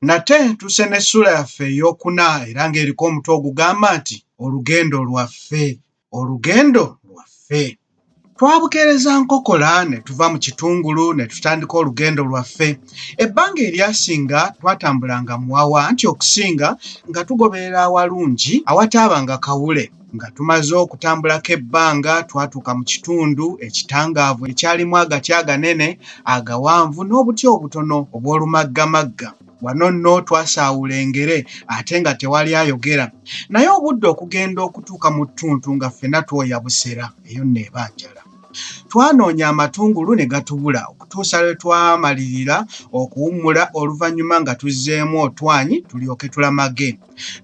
nate tuse n'essuula yaffe ey'okuna era ng'eriko omutwe ogugamba nti olugendo lwaffe olugendo lwaffe Twabukeereza nkokola ne tuva mu kitungulu ne tutandika olugendo lwaffe. Ebbanga eryasinga twatambulanga muwawa anti okusinga nga tugoberera awalungi awataabanga kawule. Nga tumaze okutambulako ebbanga twatuuka mu kitundu ekitangaavu ekyalimu agati aganene, agawanvu n'obuti obutono obw'olumaggamagga. wano nno twasaawula engere ate nga tewali ayogera naye obudde okugenda okutuuka mu ttuntu nga ffena twoya busera eyo nno eba njala twanoonya amatungulu ne gatubula okutuusa lwe twamalirira okuwummula oluvannyuma nga tuzzeemu otwanyi tulyoke tulamage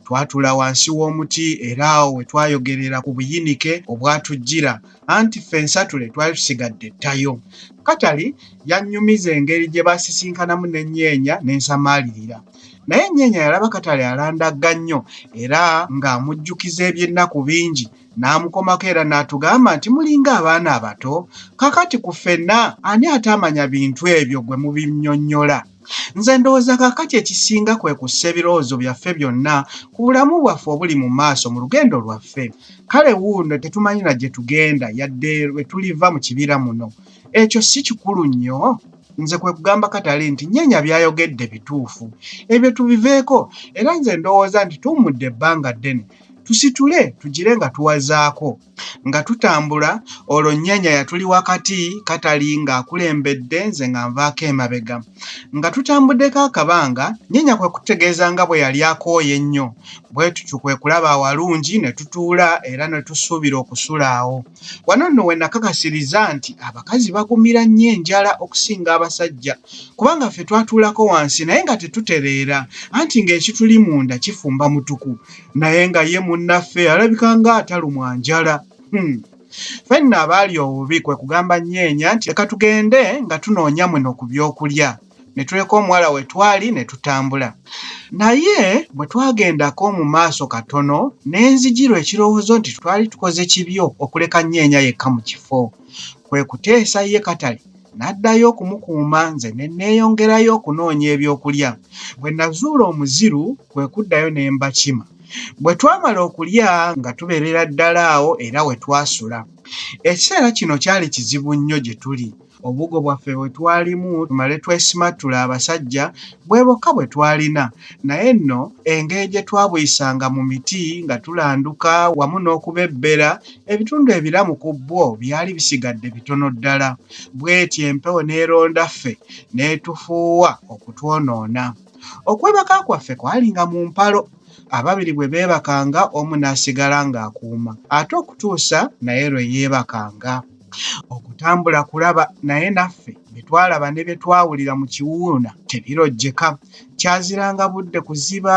twatula wansi w'omuti era awo we twayogerera ku buyinike obwatujjira anti ffe ensatule twali tusigadde ttayo katali yannyumiza engeri gye basisinkanamu n'ennyeenya n'ensamaalirira naye ennyeenya yalaba katale alandagga nnyo era ng'amujjukiza eby'ennaku bingi n'amukomako era n'atugamba nti mulinga abaana abato kakati ku ffenna ani ataamanya bintu ebyo gwe mubinnyonnyola Nze ndowooza kaakati ekisinga kwe kussa ebirowoozo byaffe byonna ku bulamu bwaffe obuli mu maaso mu lugendo lwaffe. Kale wuuno tetumanyi na gye tugenda yadde lwe tuliva mu kibira muno. Ekyo si kikulu nnyo? Nze kwe kugamba Katali nti, Nnyenya by'ayogedde bituufu. Ebyo tubiveeko. Era nze ndowooza nti tuwummudde ebbanga ddene. Tusitule, tugire nga tuwazaako. nga tutambula olwo nnyanya yatuli wakati katali ng'akulembedde nze nga nvaako emabega nga tutambuddeko akabanga nnyanya kwe kutegeeza nga bwe yali akooye ennyo bwe tutyo kwe kulaba awalungi ne tutuula era ne tusuubira okusula awo wano nno we nakakasiriza nti abakazi bagumira nnyo enjala okusinga abasajja kubanga ffe twatuulako wansi naye nga tetutereera anti ng'ekituli munda kifumba mutuku naye nga ye munnaffe alabika nga atalumwa njala hmm. fenna abaali obubi kwe kugamba nyeenya nti leka tugende nga tunoonya muno ku by'okulya ne tuleka omuwala we twali ne tutambula naye bwe twagendako mu maaso katono ne nzijirwa ekirowoozo nti twali tukoze kibyo okuleka nyeenya yekka mu kifo kwe kuteesa ye katale n'addayo okumukuuma nze ne neeyongerayo okunoonya ebyokulya bwe nazuula omuziru kwe kuddayo ne mbakima. Bwe twamala okulya nga tubeerera ddala awo era we twasula. Ekiseera kino kyali kizibu nnyo gye tuli. Obugo bwaffe bwe twalimu tumale twesimattule abasajja bwe bokka bwe twalina. Naye nno engeri gye twabuyisanga mu miti nga tulanduka wamu n'okubebbera, ebitundu ebiramu ku bwo byali bisigadde bitono ddala. Bw'etyo empewo n'eronda ffe n'etufuuwa okutwonoona. okwebaka kwaffe kwalinga mu mpalo ababiri bwe beebakanga omu n'asigala ng'akuuma ate okutuusa naye lwe yeebakanga okutambula kulaba naye naffe bye twalaba ne bye twawulira mu kiwuuna tebirojjeka kyaziranga budde kuziba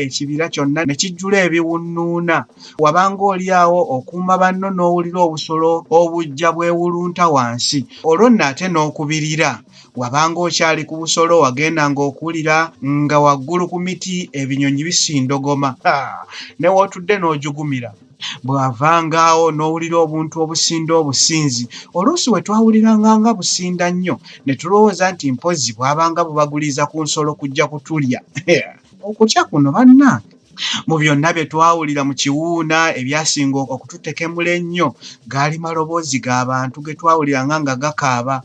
ekibira kyonna ne kijjula ebiwunnuuna wabanga oli awo okuuma banno n'owulira obusolo obujja bwewulunta wansi olwo nno ate n'okubirira wabanga okyali ku busolo wagendanga okuwulira nga waggulu ku miti ebinyonyi bisindogoma ne wootudde n'ojugumira bw'avangaawo n'owulira obuntu obusinda obusinzi oluusi we twawuliranga nga businda nnyo ne tulowooza nti mpozzi bwabanga bubaguliiza ku nsolo kujja kutulya okutya kuno bannange mu byonna bye twawulira mu kiwuuna ebyasinga okututekemula ennyo gaali maloboozi g'abantu ge twawuliranga nga gakaaba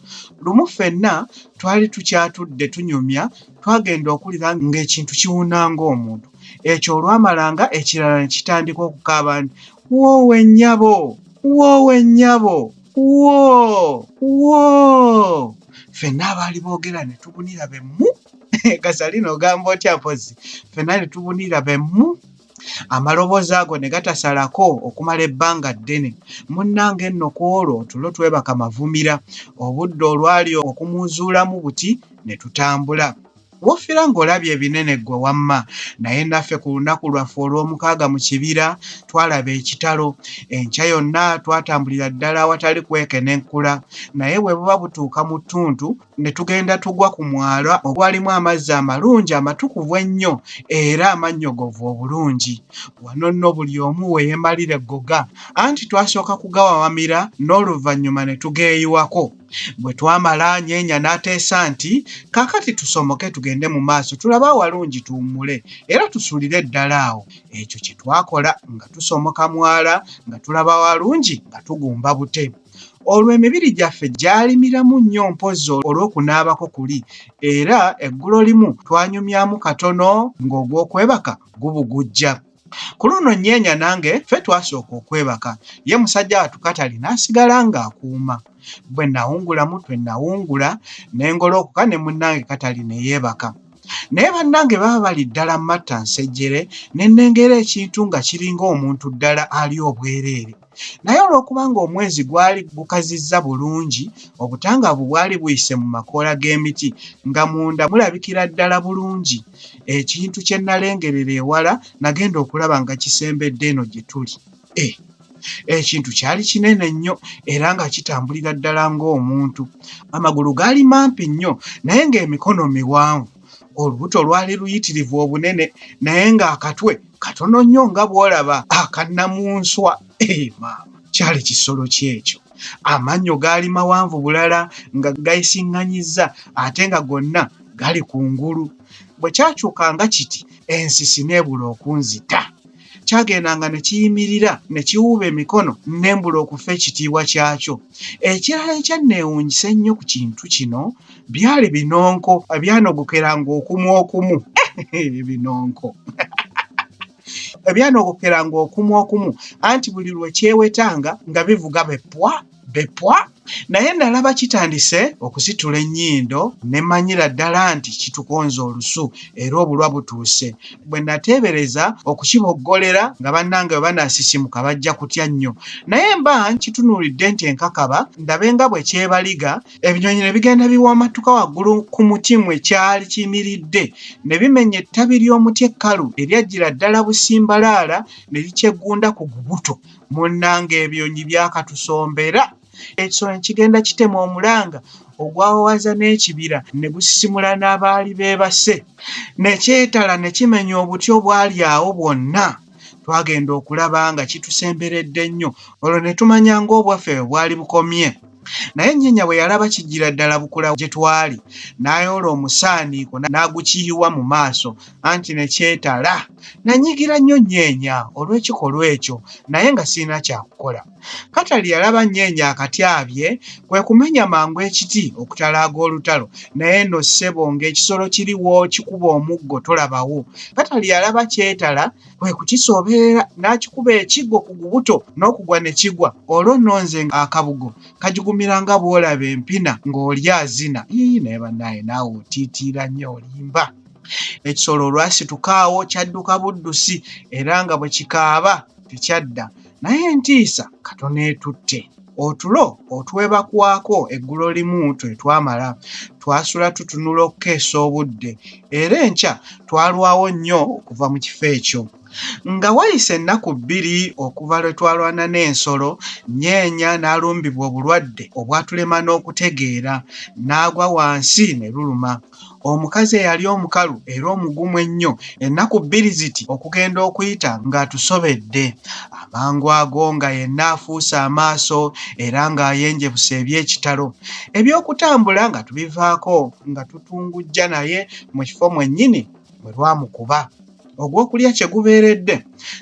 lumu ffenna twali tukyatudde tunyumya twagenda okuwulira ng'ekintu kiwuuna ng'omuntu ekyo olwamalanga ekirala ne kitandika okukaaba nti woowe nnyabo woowe nnyabo woo woo ffenna abaali boogera ne tubunira be mu kasalina ogamba otya mpozi fena netubunira bemu amaloboozi ago ne gatasalako okumala ebbanga ddene munnange nno ku olwo tulo twebaka mavumira obudde olwali okumuzuulamu buti ne tutambula wofira ng'olabye ebinene ggwe wamma naye naffe ku lunaku lwaffe olw'omukaaga mu kibira twalaba ekitalo enkya yonna twatambulira ddala awatali kwekenenkula naye bwe buba butuuka mu ttuntu ne tugenda tugwa ku mwala ogwalimu amazzi amalungi amatukuvu ennyo era amannyogovu obulungi. Wano nno buli omu we yeemalira eggoga, anti twasooka kugawawamira n'oluvannyuma ne tugeeyiwako. Bwe twamala, Nyeenya n'ateesa nti, Kaakati tusomoke tugende mu maaso tulabe awalungi tuwummule era tusulire ddala awo. Ekyo kye twakola nga tusomoka mwala nga tulaba awalungi nga tugumba bute. olwo emibiri gyaffe gyalimiramu nnyo mpozzi olw'okunaabako kuli era eggulo limu twanyumyamu katono ng'ogw'okwebaka gubugujja. Ku luno Nyeenya nange ffe twasooka okwebaka, ye musajja wattu Katali n'asigala ng'akuuma. Bwe nawungulamu twe nawungula ne ngolookoka ne munnange Katali ne yeebaka. Naye bannange baba bali ddala mmatta nsejjere ne nnengera ekintu nga kiringa omuntu ddala ali obwereere. naye olw'okubanga omwezi gwali gukazizza bulungi obutangaavu bwali buyise mu makoola g'emiti nga munda mulabikira ddala bulungi ekintu kye nalengerera ewala nagenda okulaba nga kisembedde eno gye tuli e ekintu kyali kinene nnyo era nga kitambulira ddala ng'omuntu amagulu gaali mampi nnyo naye ng'emikono miwanvu olubuto lwali luyitirivu obunene naye ng'akatwe katono nnyo nga bw'olaba akannamunswa ee maama kyali kisolo kyekyo amannyo gaali mawanvu bulala nga gayisiŋŋanyizza ate nga gonna gali ku ngulu bwe kyakyuka nga kiti ensisi n'ebula okunzita kyagendanga ne kiyimirira ne kiwuuba emikono ne mbula okufa ekitiibwa kyakyo. Ekirala ekyanneewuunyisa ennyo ku kintu kino byali binonko ebyanogokeranga okumu okumu. Ebinonko! Ebyanogokeranga okumu okumu anti buli lwe kyewetanga nga bivuga be ppwa! bepwa naye nalaba kitandise okusitula ennyindo ne manyira ddala nti kitukonza olusu era obulwa butuuse bwe nateebereza okukiboggolera nga bannange bwe banaasisimuka bajja kutya nnyo naye mba nkitunuulidde nti enkakaba ndabe nga bwe kyebaliga ebinyonyi ne bigenda biwamattuka waggulu ku muti mwe kyali kiyimiridde ne bimenya ettabi ly'omuti ekkalu eryajjira ddala busimbalaala ne likyeggunda ku gubuto munnanga ebyonyi byakatusombera ekisolo nekigenda kitema omulanga ogwawawaza n'ekibira ne gusisimula n'abaali beebase nekyetala ne kimenya obuti obwali awo bwonna twagenda okulaba nga kitusemberedde nnyo olwo ne tumanya ng'obwaffe bwali bukomye naye nnyenya bwe yalaba kijjira ddala bukula gye twali n'ayoola omusaaniiko n'agukiyiwa mu maaso anti ne kyetala nanyigira nnyo nnyenya olw'ekikolwa ekyo naye nga sirina kyakukola katali yalaba nnyenya akatyabye kwe kumenya mangu ekiti okutalaaga olutalo naye no ssebo ng'ekisolo kiriwo kikuba omuggo tolabawo katali yalaba kyetala kwe kukisooberera n'akikuba ekiggo ku gubuto n'okugwa ne kigwa olwo nno nze akabugo kajugumira nga bw'olaba empina ng'oli azina ii naye banaye naawe otiitiira nnyo olimba ekisolo olwasituka awo kyadduka buddusi era nga bwe kikaaba tekyadda naye entiisa katono etutte otulo otwebakwako eggulo limu twe twamala twasula tutunula okukeesa obudde era enkya twalwawo nnyo okuva mu kifo ekyo nga wayise ennaku bbiri okuva lwe twalwana n'ensolo nyeenya n'alumbibwa obulwadde obwatulema n'okutegeera n'agwa wansi ne luluma omukazi eyali omukalu era omugumu ennyo ennaku bbiri ziti okugenda okuyita ng'atusobedde amangu ago nga yenna afuuse amaaso era ng'ayenjebusa eby'ekitalo eby'okutambula nga tubivaako nga tutungujja naye mu kifo mwennyini bwe lwamukuba ogw'okulya kye gubeeredde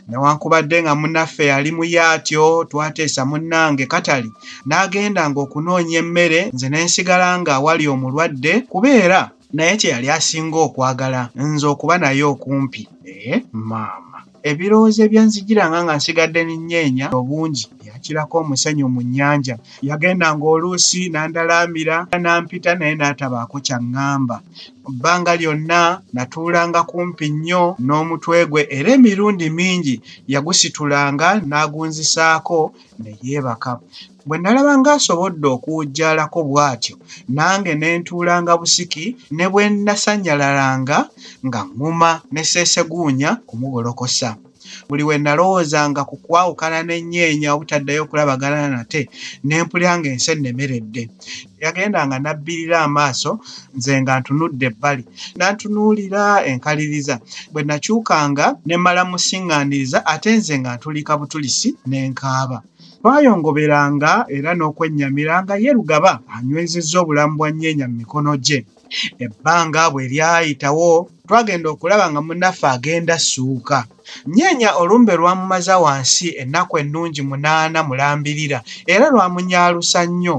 newankubadde nga munaffe yali muye atyo twateesa munnange katali n'agenda ng'okunoonya emmere nze ne nsigala nga awali omulwadde kubeera naye kye yali asinga okwagala nze okuba naye okumpi ee eh, maama Ebirowoozo ebyanzijiranga nga nsigadde n'ennyeenya obungi byakirako omusenyu mu nnyanja. Yagendanga oluusi n'andalaamira n'ampita naye n'atabaako ky'aŋŋamba. Mu bbanga lyonna natuulanga kumpi nnyo n'omutwe gwe era emirundi mingi yagusitulanga n'agunzisaako ne yeebaka. Bwe nalaba ng'asobodde okuwujjaalako bw'atyo, nange ne ntuulanga busiki ne bwe nnasanyalalanga nga ŋŋuma ne sseeseguunya kumugolokosa. Buli we nalowoozanga ku kwawukana n'ennyeenya obutaddayo kulabagana nate, ne mpulira ng'ensi ennemeredde. Yagendanga n'abbirira amaaso nze nga ntunudde ebbali. N'antunuulira enkaliriza. Bwe nakyukanga ne mmala musiŋŋaaniriza ate nze nga ntulika butulisi ne nkaaba. Twayongoberanga era n'okwennyamira nga ye Lugaba anywezezza obulamu bwa Nyeenya mu mikono gye. Ebbanga bwe lyayitawo, twagenda okulaba nga munnaffe agenda assuuka. Nyeenya olumbe lwamumaza wansi ennaku ennungi munaana mulambirira era lwamunyaalusa nnyo.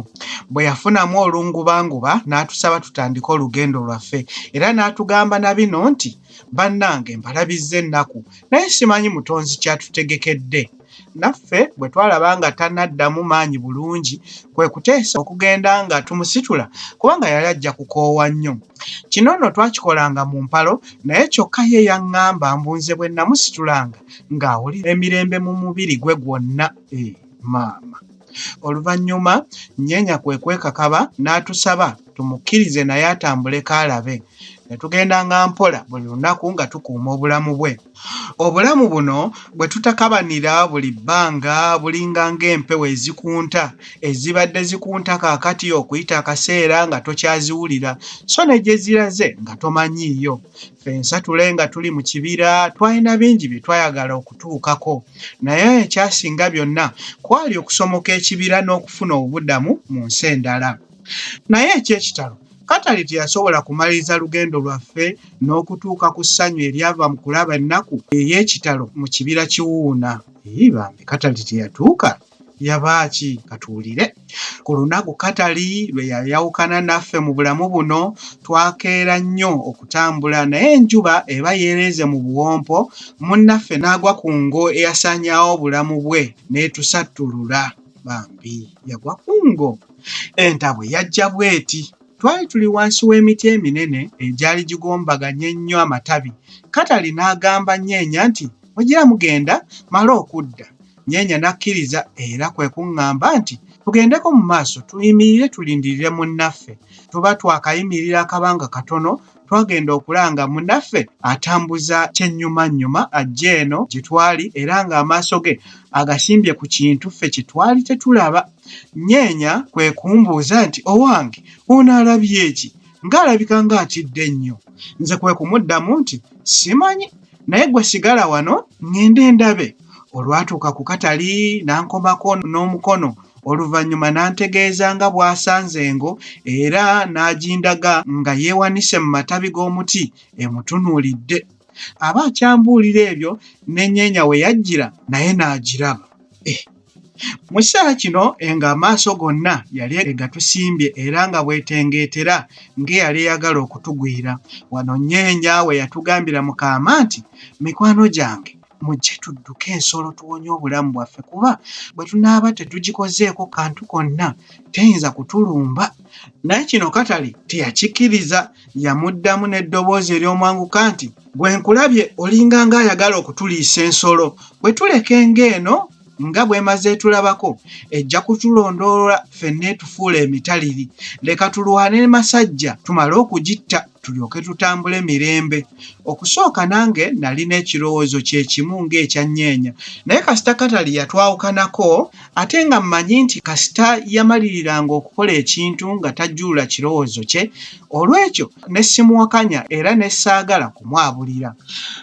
Bwe yafunamu olungubanguba n'atusaba tutandike olugendo lwaffe era n'atugamba na bino nti, Bannange mbalabizza ennaku naye simanyi Mutonzi ky'atutegekedde. naffe bwe twalaba nga tanaddamu maanyi bulungi kwe kuteesa okugenda nga tumusitula kubanga yali ajja kukoowa nnyo kino nno twakikolanga mu mpalo naye kyokka ye yaŋŋamba mbu nze bwe namusitulanga ng'awulira emirembe mu mubiri gwe gwonna e maama oluvannyuma nnyenya kwe kwekakaba n'atusaba tumukkirize naye atambule kaalabe ne tugendanga mpola buli lunaku nga tukuuma obulamu bwe Obulamu buno bwe tutakabanira buli bbanga bulinga ng'empewo ezikunta ezibadde zikunta kaakati okuyita akaseera nga tokyaziwulira so ne gye ziraze nga tomanyiiyo. Ffensa tule nga tuli mu kibira twalina bingi bye twayagala okutuukako naye ekyasinga byonna kwali okusomoka ekibira n'okufuna obubudamu mu nsi endala. Naye eky'ekitalo Katale teyasobola kumaliriza lugendo lwaffe n'okutuuka ku ssanyu eryava mu kulaba ennaku ey'ekitalo mu kibira Kiwuuna. Yii bambi Katali teyatuuka? Yaba ki? Ka tuwulire. Ku lunaku Katali lwe yayawukana naffe mu bulamu buno, twakeera nnyo okutambula naye enjuba eba yeereeze mu buwompo, munnaffe n'agwa ku ngo eyasaanyaawo obulamu bwe n'etusattulula. bambi yagwa ku ngo entabwe yajja bweti twali tuli wansi w'emiti eminene egyali gigombaganye ennyo amatabi katali n'agamba nyeenya nti mugira mugenda male okudda nyeenya n'akkiriza era kwe kuŋŋamba nti tugendeko mu maaso tuyimirire tulindirire munnaffe tuba twakayimirira akabanga katono twagenda okulanga munaffe atambuza kyennyumannyuma ajja eno gye twali era ng'amaaso ge agasimbye ku kintu ffe kye twali tetulaba. Nyeenya kwe kumbuuza nti, Owange, ono alabye ki? Ng'alabika ng'atidde nnyo. Nze kwe kumuddamu nti, Simanyi, naye ggwe sigala wano ŋŋende ndabe. olwatuuka ku katali n'ankomako n'omukono oluvannyuma n'antegeeza nga bw'asanze engo era n'agindaga nga yeewanise mu matabi g'omuti emutunuulidde aba akyambuulira ebyo n'enyeenya we yajjira naye n'agiraba eh. mu kiseera kino enga amaaso gonna yali egatusimbye era nga bwetengeetera ng'eyali eyagala okutugwira wano nyeenya we yatugambira mu kaama nti mikwano gyange Mujje tudduke ensolo tuwonye obulamu bwaffe kuba bwe tunaaba tetugikozeeko kantu konna teyinza kutulumba. Naye kino Katale teyakikkiriza, yamuddamu n'eddoboozi ery'omwanguka nti, Gwe nkulabye olinga ng'ayagala okutuliisa ensolo. Bwe tuleka engo eno, nga bwemaze etulabako ejja kutulondoolwa fenna etufuula emitaliri leka tulwane ne masajja tumale okugitta tulyoke tutambule mirembe okusooka nange nalina ekirowoozo kyekimu ng'ekya nyeenya naye kasita katali yatwawukanako ate nga mmanyi nti kasita yamaliriranga okukola ekintu nga tajjuula kirowoozo kye olw'ekyo ne simuwakanya era ne saagala kumwabulira.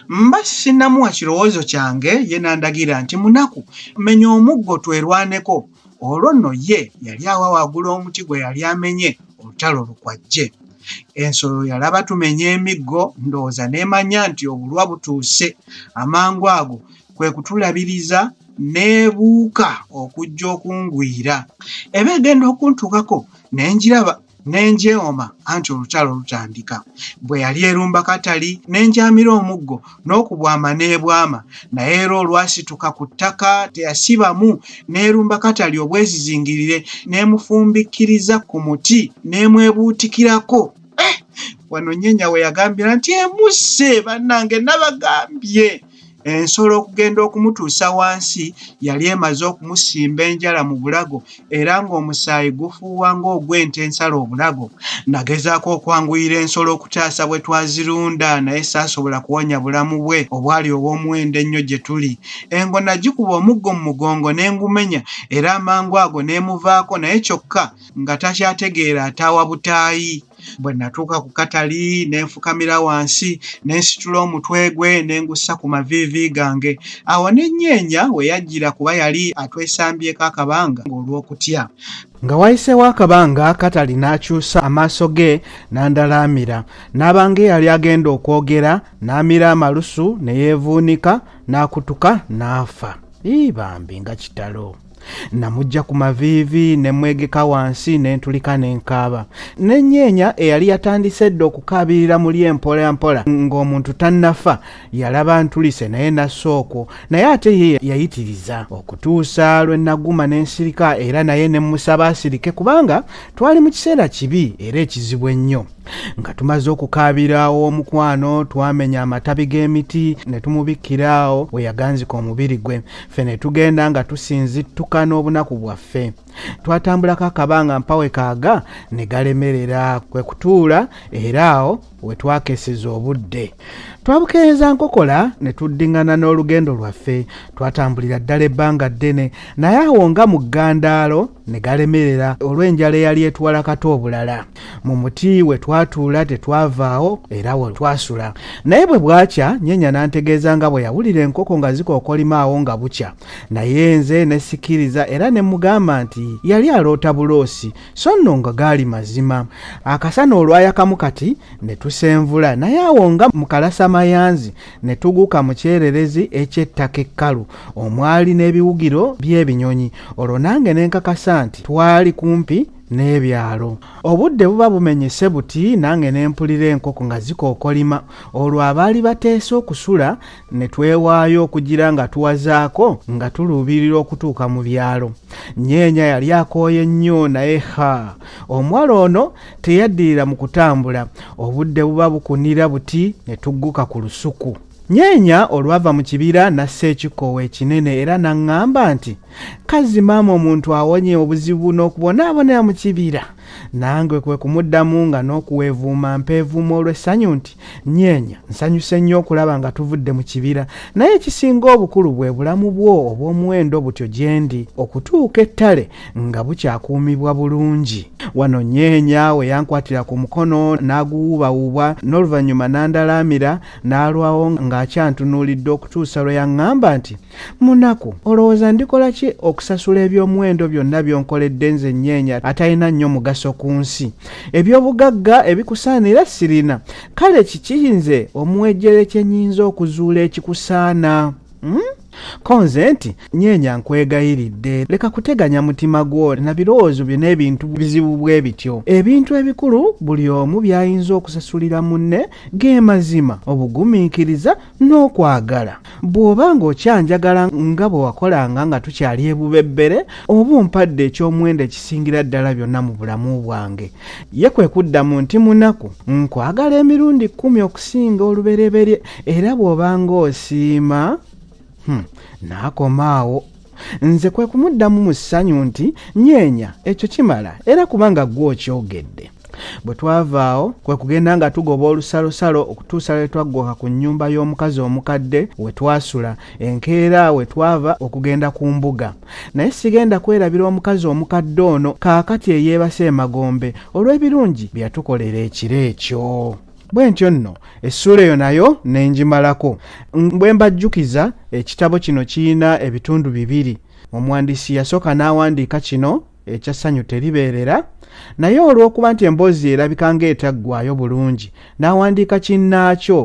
Mba sinnamuwa kirowoozo kyange ye n'andagira nti, Munaku, menya omuggo twerwaneko. Olwo nno ye yali awa waggulu omuti gwe yali amenye olutalo lukwajje. Ensolo yalaba tumenya emiggo ndowooza n'emanya nti obulwa butuuse. Amangu ago kwe kutulabiriza n'ebuuka okujja okungwira. Eba egenda okuntuukako ne ngiraba. ne njeewoma anti olutalo lutandika. Bwe yali erumba katali ne njaamira omuggo n'okubwama n'ebwama naye era olwasituka ku ttaka teyasibamu n'erumba katali obwezizingirire n'emufumbikkiriza ku muti n'emwebuutikirako. Eh! Wano Nyenya we yagambira nti emusse bannange nabagambye! ensolo okugenda okumutuusa wansi yali emaze okumusimba enjala mu bulago era ng'omusaayi gufuuwa ng'ogw'ente ensala obulago nagezaako okwanguyira ensolo okutaasa bwe twazirunda naye saasobola kuwonya bulamu bwe obwali obw'omuwendo ennyo gye tuli engo nagikuba omuggo mu mugongo ne ngumenya era amangu ago n'emuvaako naye kyokka nga takyategeera ataawa butaayi bwe natuuka ku katali ne nfukamira wansi ne nsitula omutwe gwe ne ngussa ku maviivi gange awo ne nnyeenya we yajjira kuba yali atwesambyeko akabanga ng'olw'okutya nga wayiseewo akabanga katali n'akyusa amaaso ge n'andalaamira n'abanga eyali agenda okwogera n'amira amalusu ne yeevuunika n'akutuka n'afa ii bambi nga kitalo namujja ku maviivi ne mwegeka wansi ne ntulika ne nkaaba n'ennyeenya eyali yatandise edda okukaabirira muli empola mpola ng'omuntu tannafa yalaba ntulise naye nassa okwo naye ate ye yayitiriza okutuusa lwe naguma ne nsirika era naye ne mmusaba asirike kubanga twali mu kiseera kibi era ekizibu ennyo nga tumaze okukaabira omukwano twamenya amatabi g'emiti ne tumubikkira awo we yaganzika omubiri gwe ffe ne tugenda nga tusinzittuka n'obunaku bwaffe twatambulako akabanga mpawe kaaga ne galemerera kwe kutuula era awo we twakeseza obudde twabukeeza nkokola ne tuddiŋŋana n'olugendo lwaffe twatambulira ddala ebbanga ddene naye awo nga mu ggandaalo ne galemerera olw'enjala eyali etwala kata obulala mu muti we twatuula tetwavaawo era we twasula naye bwe bwakya nyenya n'antegeeza nga bwe yawulira enkoko nga zikookolima awo nga bukya naye nze ne sikiriza era ne mugamba nti yali aloota buloosi so nno nga gaali mazima akasana olwayakamu kati ne tusenvula naye awo nga mukalasa mayanzi ne tuguka mu kyererezi eky'ettaka ekkalu omwali n'ebiwugiro by'ebinyonyi olwo nange ne nkakasa nti twali kumpi n'ebyalo obudde buba bumenyese buti nange ne mpulira enkoko nga zikookolima olwo abaali bateese okusula ne twewaayo okugira nga tuwazaako nga tuluubirira okutuuka mu byalo nyeenya yali akooye nnyo naye ha omuwala ono teyaddirira mu kutambula obudde buba bukunira buti ne tugguka ku lusuku nyeenya olwava mu kibira n'assa ekikoowa ekinene era n'aŋŋamba nti kazzi maama omuntu awonye obuzibu n'okubonaabonera mu kibira nange kwe kumuddamu nga n'okuweevuuma mpeevuuma olw'essanyu nti nyeenya nsanyuse nnyo okulaba nga tuvudde mu kibira naye ekisinga obukulu bwe bulamu bwo obw'omuwendo butyo gye ndi okutuuka ettale nga bukyakuumibwa bulungi wano nyeenya we yankwatira ku mukono n'aguwuubawuubwa n'oluvannyuma n'andalaamira n'alwawo ng'akyantunuulidde okutuusa lwe yaŋŋamba nti munaku olowooza ndikola ki okusasula ebyomuwendo byonna byonkoledde nze nyeenya atalina nnyo mugaso ku nsi ebyobugagga ebikusaanira sirina kale kiki nze omuwejjere kye nyinza okuzuula ekikusaana hmm? ko nze nti nyeenya nkwegayiridde leka kuteganya mutima gwo na birowoozo byo n'ebintu bizibu bwe bityo ebintu ebikulu buli omu by'ayinza okusasulira munne g'emazima obugumiikiriza n'okwagala bw'oba ng'okyanjagala nga bwe wakolanga nga tukyali ebubebbere oba ompadde eky'omuwendo ekisingira ddala byonna mu bulamu bwange ye kwe kuddamu nti munaku nkwagala emirundi kkumi okusinga olubereberye era bw'oba ng'osiima hmm, n'akomaawo nze kwe kumuddamu mu ssanyu nti nyeenya ekyo kimala era kubanga ggwe okyogedde bwe twavaawo kwe kugenda nga tugoba olusalosalo okutuusa lwe twaggoka ku nnyumba y'omukazi omukadde we twasula enkeera we twava okugenda ku mbuga naye sigenda kwerabira omukazi omukadde ono kaakati eyeebase emagombe olw'ebirungi bye yatukolera ekiro ekyo bwe ntyo nno essuula eyo nayo ne ngimalako bwe mbajjukiza ekitabo kino kirina ebitundu bibiri omuwandiisi yasooka n'awandiika kino ekyassanyu teribeerera naye olw'okuba nti emboozi erabika ng'etaggwayo bulungi n'awandiika kinnaakyo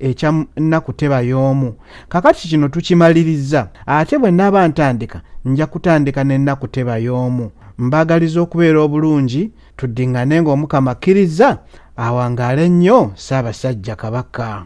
ekya nnaku teba y'omu kakati kino tukimalirizza ate bwe naaba ntandika nja kutandika n'ennaku teba y'omu mbaagaliza okubeera obulungi tuddiŋŋane ng'omukama akkirizza awangaale nnyo ssaabasajja kabaka